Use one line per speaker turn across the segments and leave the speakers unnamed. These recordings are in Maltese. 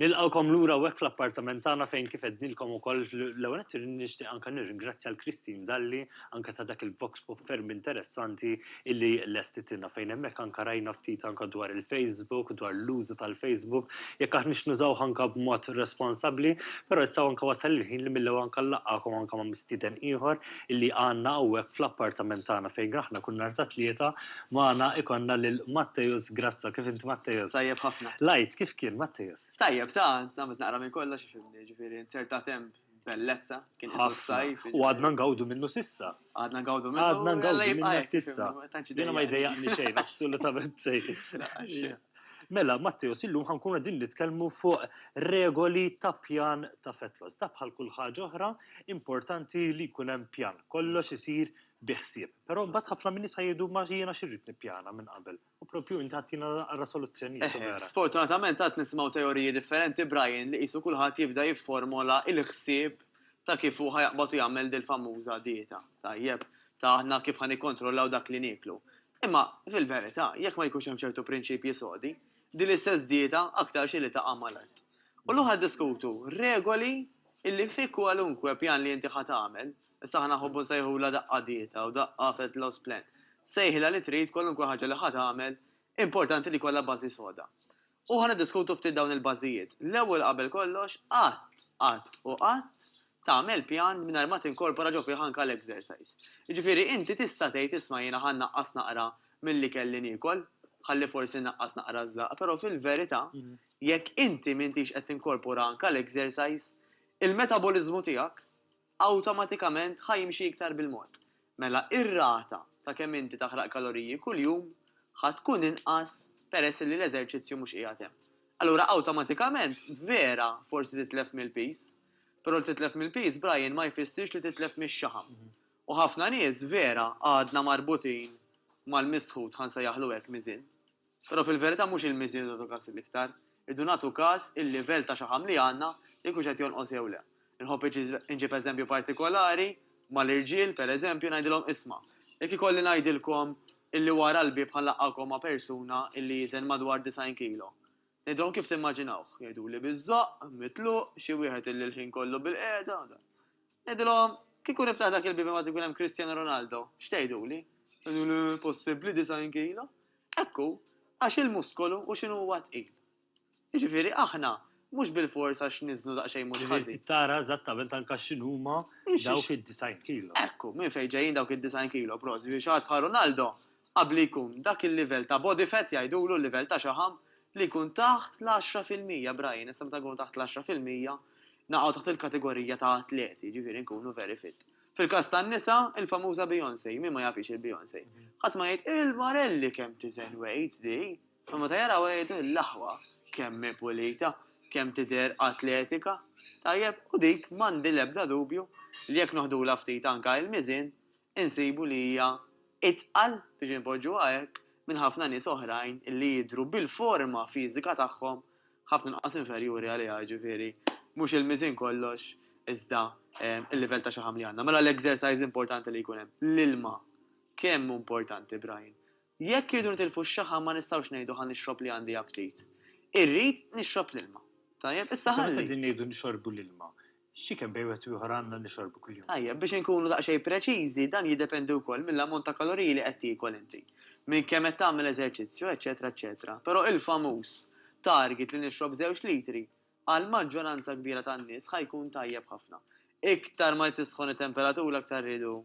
Nilqgħukom lura hawnhekk fl-appartament tagħna fejn kif għednilkom ukoll l-ewwel qed nixtieq anke nirringrazzja l-Christine Dalli anke ta' dak il-vox pop ferm interessanti illi lestitilna fejn hemmhekk anke rajna ftit anke dwar il-Facebook, dwar l-użu tal-Facebook, jekk aħna x'nużawh anke b'mod responsabbli, però issa anke wasal il-ħin li mill-ewwel anke nlaqgħukom anke ma' mistieden ieħor illi għandna hawnhekk fl-appartament tagħna fejn aħna kull nhar ta' Tlieta magħna ikollna lil Matteus Grasso. Kif int Matteus? Tajjeb ħafna. L-Għid
kif kien Matteus?
Tajjeb ta, għamilt
naqra minn kollox ifhimni, jiġifieri nzertat hemm bellezza, kien qisu s-sajf. U għadna ngawdu minnu
s'issa. Għadna ngawdu minnu. Għadna
ngawdu minnu
s'issa. Jiena ma jdejjaqni xejn, assolutament xejn. Mela, Matteos, illum ħa nkunu qegħdin nitkellmu fuq regoli ta' pjan ta' fetwas. Ta' bħal kull ħaġa oħra, importanti li jkun hemm pjan. Kollox isir bi ħsieb. Però mbagħad ħafna min nisa jgħidu ma jiena xirrid nippjana minn qabel. U propju inti ħattina għara soluzzjoni. Eh, eh, sfortunatament għad nisimgħu
teoriji differenti Brian li qisu kulħadd jibda jifformola il-ħsieb ta' kif hu ħajaqbad jagħmel dil-famuża dieta. Tajjeb, ta' aħna kif ħan ikkontrollaw dak li nieklu. Imma, fil-verità, jekk ma jkunx hemm ċertu prinċipji sodi, din l-istess dieta aktarx li taqa' mal-art. U llum qed niddiskutu regoli li fi kwalunkwe pjan li inti ħa tagħmel, issa aħna nħobbu nsejħulha daqqa dieta u daqqa fat loss plan, sejħilha li trid kwalunkwe ħaġa li ħa tagħmel, importanti li jkollha bażi soda. U ħa niddiskutu ftit dawn il-bażijiet. L-ewwel qabel kollox, qatt, qatt u qatt tagħmel pjan mingħajr ma tinkorpora ġo fih anke l-exercise. Jiġifieri inti tista' tgħid isma' jiena ħa nnaqqas naqra mill-ikel li niekol, ħalli forsi nnaqqas naqra ż-żlaqq, però fil-verità jekk inti m'intix qed tinkorpora anke l-exercise, il-metaboliżmu tiegħek awtomatikament ħa jimxi iktar bil-mod, mela r-rata ta' kemm inti taħraq kaloriji kuljum ħa tkun inqas peress li l-eżerċizzju mhux qiegħed hemm. Allura awtomatikament vera forsi titlef mill-piż, però li titlef mill-piż Brian ma jfissirx li titlef mix-xaħam. U ħafna nies vera għadna marbutin mal-misħut ħa nsejjaħlu hekk miżien. Però fil-verità mhux il-miżien irridu nagħtu kas l-iktar, irridu nagħtu kas il-livell ta' xaħam li għandna, jekk hux qed jonqos jew le. Inħobb inġib eżempju partikolari mal-irġiel, per eżempju, ngħidilhom isma', jekk ikolli ngħidilkom illi wara l-bieb ħa nlaqqgħukom ma' persuna illi jiżen madwar 90 kilo. Ngħidilhom kif timmaġinawh? Jgħiduli biż-żoqq, mitluq, xi wieħed illi l-ħin kollu bilqiegħda, Ngħidilhom, Kieku niftaħ dak il-bieb imbagħad ikun hemm Cristiano Ronaldo, x'tgħiduli? Jgħidu, Le, possibbli, 90 kilo? Hekk hu, għax il-muskolu u x'inhu huwa tqil. Jiġifieri aħna mhux bilfors għax niżnu daqsxejn mhux ħażin. Ġifieri tara eżattament anke
x'inhuma dawk id-90 kilo. Hekk hu, minn fejn ġejjin
dawk id-90 kilo, prosit, biex ħadd bħal Ronaldo Qabli jkun dak il-livell ta' body fat jgħidulu l-livell ta' xaħam li jkun taħt l-għaxra fil-mija, Brian, issa meta nkunu taħt l-għaxra fil-mija naqgħu taħt il-kategorija ta' atleti, jiġifieri nkunu very fit. Fil-każ tan-nisa, il-famuża Beyoncé, min ma jafhiex il-Beyoncé? Ħadd ma jgħid, il-marelli kemm tiżen weight di! Imma meta jarawha jgħidu, l-aħwa kemm hi pulita, kemm tidher atletika! Tajjeb, u dik m'għandi l-ebda dubju li jekk noħdulha ftit anke il-miżien, insibu li hija itqal, biex inpoġġuha hekk, minn ħafna nies oħrajn li jidhru bil-forma fiżika tagħhom ħafna inqas inferjuri għaliha, jiġifieri mhux il-miżien kollox iżda l-livell ta' xaħam li għandna. Mela l-exercise importanti li jkun hemm, l-ilma kemm hu importanti Brian? Jekk irridu nitilfu x-xaħam ma nistgħux ngħidu ħa nixrob li għandi aptit. Irrid nixrob l-ilma. Tajjeb, issa ħalli. Issa meta qegħdin ngħidu nixorbu
l-ilma, xi kemm bejn wieħed u ieħor għandna nixorbu kuljum? Tajjeb, biex inkunu daqsxejn
preċiżi, dan jiddependi wkoll mill-ammont ta' kaloriji li qed tiekol inti, minn kemm qed tagħmel eżerċizzju, eċċetera eċċetera. Però il-famuż target li nixrob żewġ litri, Għall-maġġoranza kbira tan-nies ħa jkun tajjeb ħafna. Iktar ma tisħon it-temperatura aktar rridu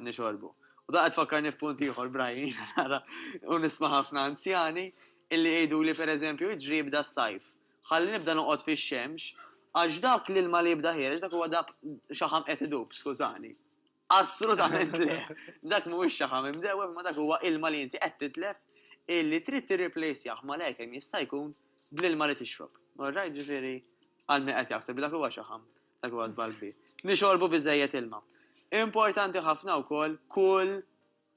nixorbu. U dan qed tfakkarni f'punt ieħor, Brian, jiena nara u nisma' ħafna anzjani illi jgħiduli pereżempju iġri jibda s-sajf, ħalli nibda noqgħod fix-xemx għax dak l-ilma li jibda ħiereġ dak huwa dak xaħam qed idub, skużani. Assolutament le. Dak mhuwiex xaħam imdewwem ma dak huwa ilma li inti qed titlef illi trid tirriplejsjah malajr kemm jista' jkun bl-ilma li tixrob. Orrajt, ġifieri għal min qed jaħseb li dak huwa xaħam, dak huwa żball kbir. Nixorbu biżżejjed ilma. Importanti ħafna wkoll kull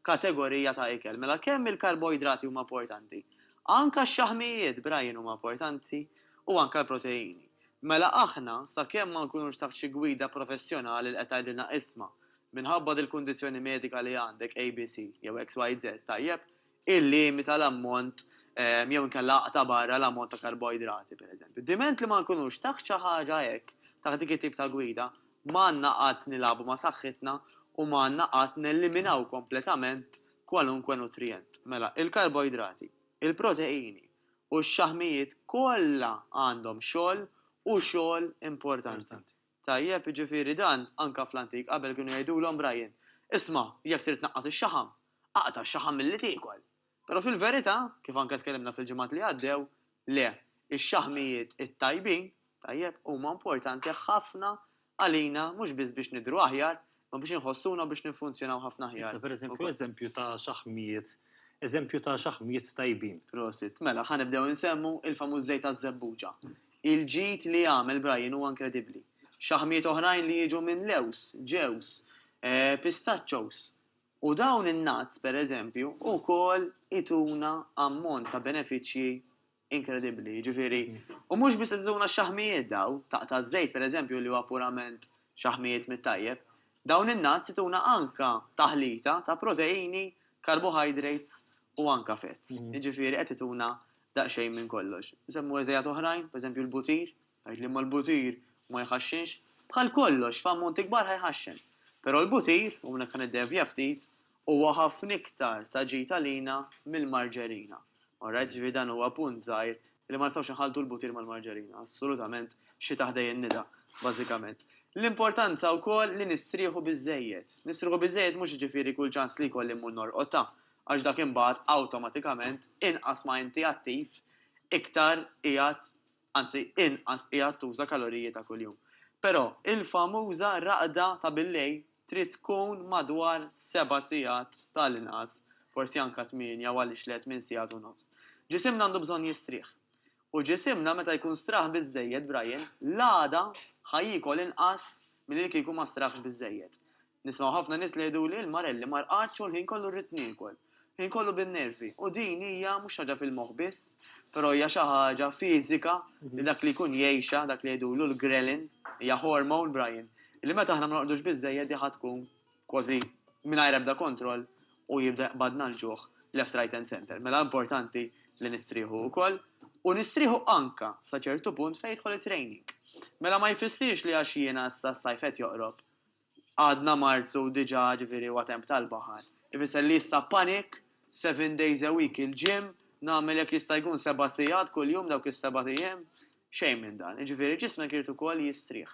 kategorija ta' ikel. Mela kemm il-karboidrati huma importanti? Anka x-xaħmijiet b'ragħjin huma importanti u anka l-proteini. Mela aħna, sakemm ma nkunux taħt xi gwida professjonali li qed tgħidilna isma', minħabba dil-kundizzjoni medika li għandek ABC jew XYZ tajjeb, illimita l-ammont jew inkella aqta' barra l-ammont ta' karboidrati, pereżempju. Diment li ma nkunux taħt xi ħaġa hekk, taħt dik it-tip ta' gwida, Ma għandna qatt nilagħbu ma' saħħitna u ma għandna qatt neliminaw kompletament kwalunkwe nutrijent. Mela, il-karboidrati, il-proteini u x-xaħmijiet kollha għandhom xogħol u xogħol importanti. Tajjeb, jiġifieri dan anke fl-antik qabel kienu jgħidulhom Brian, isma' jekk trid tnaqqas ix-xaħam, aqta' x-xaħam milli tiekol. Però fil-verità, kif anke tkellimna fil-ġimgħat li għaddew, le, ix-xaħmijiet it-tajbin, tajjeb, huma importanti ħafna għalina mhux biss biex nidhru aħjar, imma biex inħossuna u biex niffunzjonaw ħafna aħjar. Issa, pereżempju, eżempju ta'
xaħmijiet, eżempju ta' xaħmijiet tajbin. Prosit. Mela, ħa
nibdew insemmu l-famuż żejt taż-żebbuġa. Il-ġid li għamel Brian huwa inkredibbli. Xaħmijiet oħrajn li jiġu minn lewż, ġewż, pistaċċos, U dawn in-nuts, per eżempju, ukoll ituna ammont ta' benefiċċji inkredibbli. Jiġifieri, u mhux biss qed ituna x-xaħmijiet dawn, taqta' ż-żejt per eżempju li huwa purament xaħmijiet mit-tajjeb, dawn in-nuts ituna anke taħlita ta' proteini, carbohydrates u anke fats. Jiġifieri qed ituna daqsxejn minn kollox. Nsemmu eżejat oħrajn, per eżempju l-butir. Tgħid li imma l-butir ma jħaxxinx? Bħal kollox, f'ammonti kbar ħa jħaxxen. Però l-butir, u minn hekk ħa niddevja ftit, huwa ħafna iktar ta' ġid għalina mill-marġerina. Orrajt, jiġifieri dan huwa punt żgħir li ma nistgħux inħalltu l-butir mal-marġerina, assolutament, xi taħdej in-nida, bażikament. L-importanza wkoll li nistrieħu biżżejjed. Nistrieħu biżżejjed mhux jiġifieri kull ċans li jkolli mmur norqod ta', għax dak imbagħad awtomatikament inqas ma inti attiv, iktar qiegħed anzi inqas qiegħed tuża kaloriji ta' kuljum. Però, il-famuża raqda ta' billejl trid tkun madwar seba' sigħat ta' l-inqas, forsi anke tmienja u għaliex le tmien sigħat u nofs. Ġisimna għandu bżonn jistrieħ. U ġisimna meta jkun straħ biżżejjed, Brian, l-għada ħa jiekol inqas milli li kieku ma straħx biżżejjed. Nisma' ħafna nies li jgħiduli l-marelli ma rqadx u l-ħin kollu rrid niekol. Il-ħin kollu bin-nervi. U din hija mhux xi ħaġa fil-moħħ biss, però hija xi ħaġa fiżika li dak li jkun jgħixha, dak li jgħidulu l-ghrelin, hija hormone, Brian, li meta aħna ma norqdux biżżejjed hi ħa tkun kważi mingħajr ebda kontroll u jibda jqbadna l-ġuħ left right and centre. Mela importanti li nistrieħu wkoll u nistrieħu anke sa ċertu punt fejn jidħol it-training. Mela ma jfissirx li għax jiena issa s-sajf qed joqrob, Għadna Marzu u diġà, ġifieri huwa temp tal-baħar. Ifisser li issa panic, seven days a week il-gym, nagħmel jekk jista' jkun seba' sigħat kuljum dawk is-sebat ijiem. Xejn minn dan. Jiġifieri ġismek irid ukoll jistrieħ.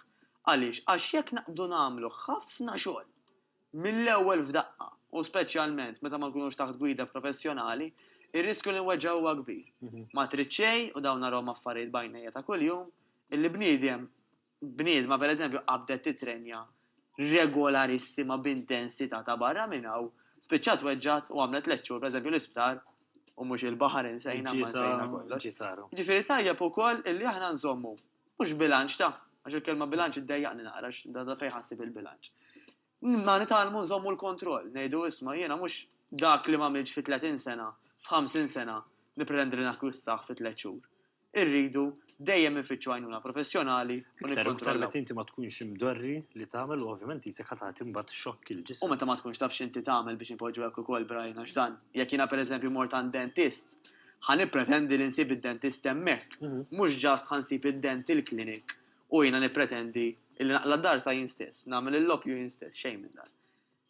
Għaliex? Għax jekk naqbdu nagħmlu ħafna xogħol mill-ewwel f'daqqa, u speċjalment meta ma nkunux taħt gwida professjonali, ir-riskju li nweġġgħu huwa kbir. Ma trid xejn, u dawn narhom affarijiet b'għajnejja ta' kuljum, illi bniedem bniedma pereżempju qabdet titrenja regolarissima b'intensità ta' barra minn hawn, spiċċat tweġġgħet u għamlet tliet xhur pereżempju l-isptar u mhux il-baħar insejna ma nsejna kollox. Jiġifieri tajjeb ukoll illi aħna nżommu mhux bilanċ ta', għax il-kelma bilanċ iddejjaqni naqra għax da fejn ħassib il-bilanċ. Għandna nitgħallmu nżommu l-kontroll, ngħidu isma' jiena mhux dak li m'għamiltx fi tletin sena, f'ħamsin sena, nippretendi li nakkwistah fi tliet xhur. Irridu dejjem infittxu għajnuna professjonali u nikkontrollaw. Iktar u iktar meta inti ma tkunx
imdorri li tagħmel u ovvjament qisek ħa tagħti mbagħad xokk il-ġisem. U meta ma tkunx taf x'inti
tagħmel biex inpoġġu hekk ukoll Brian għax dan, jekk jiena pereżempju mort għand dentist, ħa nippretendi li nsib id-dentist hemmhekk, mhux just ħa nsib id-dental clinic U jiena nippretendi illi naqla' d-dar sa jien stess, nagħmel il-loppju jien stess, xejn minn dan.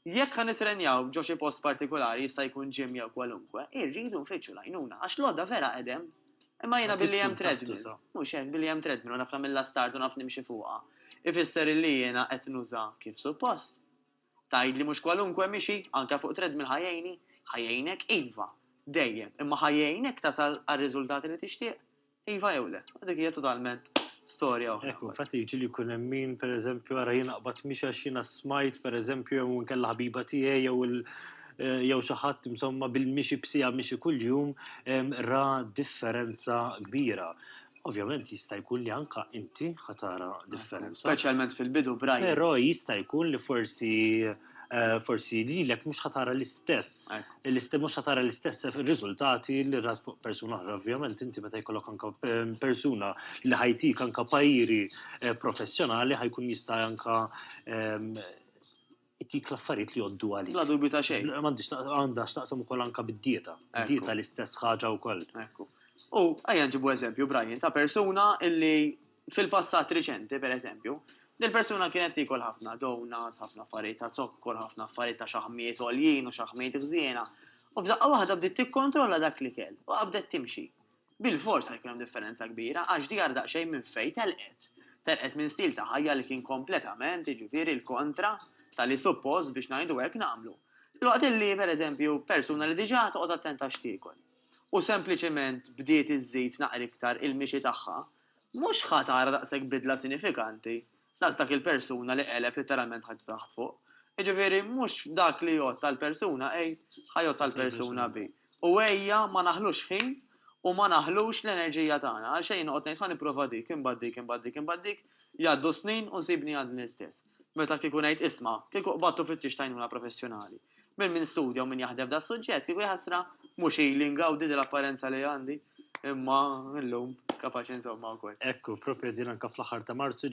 Jekk ħa nittrenjaw ġo xi post partikulari, jista' jkun gym jew kwalunkwe, irridu nfittxu l-għajnuna, għax l-għodda vera qed hemm. Imma jiena billi hemm treadmill, mhux hekk, billi hemm treadmill u naf nagħmilha start u naf nimxi fuqha, ifisser illi jiena qed nuża kif suppost. Tgħidli mhux kwalunkwe mixi, anke fuq treadmill ħa jgħinni? Ħa jgħinek, iva, dejjem, imma ħa jgħinek tasal għar-riżultati li tixtieq? Iva jew le, dik hija totalment storja oħra. Hekk, infatti jiġi li jkun hemm
min pereżempju ara jien aqbad mhix għax jiena smajt pereżempju jew inkella ħbiba tiegħi jew il eh, jew xi ħadd insomma bil-mixi b'sija mixi kuljum ra differenza kbira. Ovvjament jista' jkun li anka inti ħatara differenza. Speċjalment fil-bidu
brajn. Però jista' jkun
li forsi Eh, forsi li l-ek mux ħatara l-istess, l-istess mux ħatara l-istess rizultati li ras persuna oħra, ovvjament, inti meta jkollok anka eh, persuna li ħajtik anka pajiri eh, professjonali ħajkun jista' anka ehm, jtik l-affarijiet li joddu għalik. La dubi ta' xejn. Għandix
għandha xtaqsam
ukoll anka bid-dieta. Dieta l-istess ħaġa wkoll. U
għajja ġibu eżempju, Brian, ta' persuna illi Fil-passat riċenti, per eżempju, dil-persuna kienet tiekol ħafna donuts, ħafna affarijiet ta' zokkor, ħafna affarijiet ta' xaħmijiet għoljin u xaħmijiet ħżiena, u f'daqqa waħda bdiet tikkontrolla dak l-ikel u qabdet timxi. Bilfors ħajkun hemm differenza kbira għax di ara daqsxejn minn fejn telqet. Telqet minn stil ta' ħajja li kien kompletament, jiġifieri, l-kontra ta' li suppost, biex ngħidu hekk, nagħmlu. Filwaqt li, per eżempju, persuna li diġà toqgħod attenta x'tiekol u sempliċement bdiet iżżid naqra iktar il-mixi tagħha, Mhux ħa tara daqshekk bidla sinifikanti, daqs dak il-persuna li qeleb litteralment ħajtu taħt fuq. Jiġifieri, mhux dak li jgħodd għal persuna A ħa jgħodd għal persuna B. U ejja ma naħlux ħin u ma naħlux l-enerġija tagħna. Għalxejn noqgħod ngħid ħa nipprova dik, imbagħad dik, imbagħad dik, imbagħad dik, jgħaddu s-snin u nsibni għadni l-istess. Meta kieku ngħid isma', kieku qbadt u fittixt għajnuna professjonali minn min studja u min jaħdem f'das-suġġett, kieku jahasra, mhux ili ngawdi dil-apparenza li għandi, imma
illum kapaċi
nżommha
wkoll.
Ekku,
propja
din anka
fl-aħħar
ta'
Marzu,